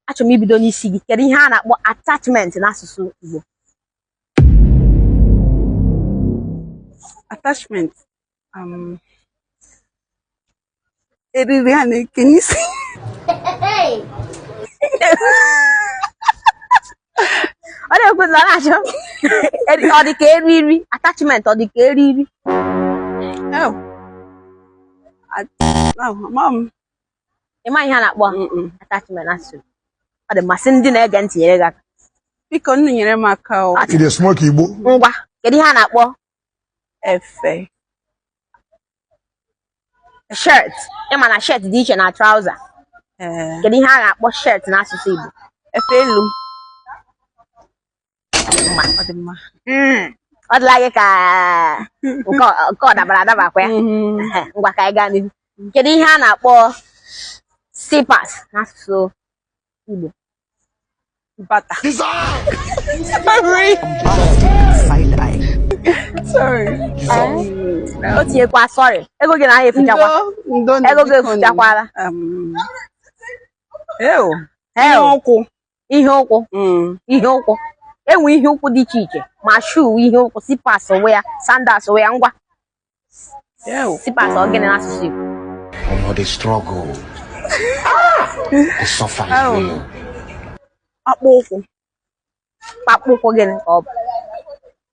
achọrọ m ibido n'isi gị kedu ihe a na-akpọ attachment n'asụsụ Igbo attachment um, eriri a na-eke n'isi ọ na-ekwu na ọ na-achọ eri- ọ dị ka eriri attachment ọ dị ka eriri Oh. At- oh, mom. ị ma ihe a na-akpọ attachment n'asụsụ ọ dị mma sị ndị na-ege ntị nyere gị aka bikonụ nyere m aka o ị na-esmoke igbo ngwa kedu ihe a na-akpọ efe shirt ịma na shirt dị iche na trouser kedu ihe a na-akpọ shirt n'asụsụ Igbo efe elu ọ dịla gị ka nke ọ dabara adaba kwa ya mm-hmm. ngwa ka anyị gaa n'ihu kedu ihe a na-akpọ slippers n'asụsụ Igbo bata o tinyekwa sorry ego gị na anyị efuchakwa ego gị efuchakwala um, ụkwụ ihe ụkwụ mm. ihe ụkwụ enwe ihe ụkwụ dị iche iche ma shoe ihe ụkwụ slippers onwe ya sandals onwe ya ngwa slippers ọ gịnị n'asụsụ Igbo ọmọ the struggle the suffer is real akpụ ụkwụ akpụ ụkwụ gịnị ka ọ bụ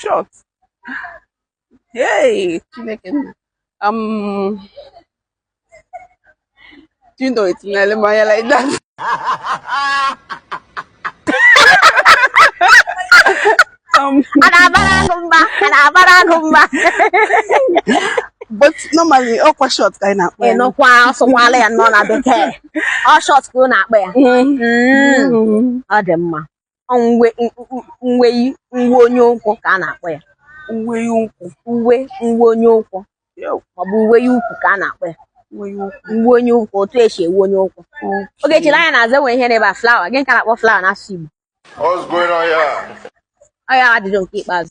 short hey chineke nna um do you know it's Nalemaya like that um, but normally ọkwa short ka anyị na-akpọ ya ịnụkwa sụkwala ya nọ na bekee ọ short ka ụ na-akpọ ya Mm. Mm. ọ dị mma uwe uwe uwe onye ụkwụ ka a na-akpọ ya uwe ụkwụ uwe uwe onye ụkwụ maọbụ uwe ukwu ka a na-akpọ ya uwe onye ụkwụ otu esi uwe onye ụkwụ oge chiri anya na-aza enwe ihe n'ebe a flower gịnị ka a na-akpọ flower n'asụsụ Igbo ọ ya ajụjụ nke ikpeazụ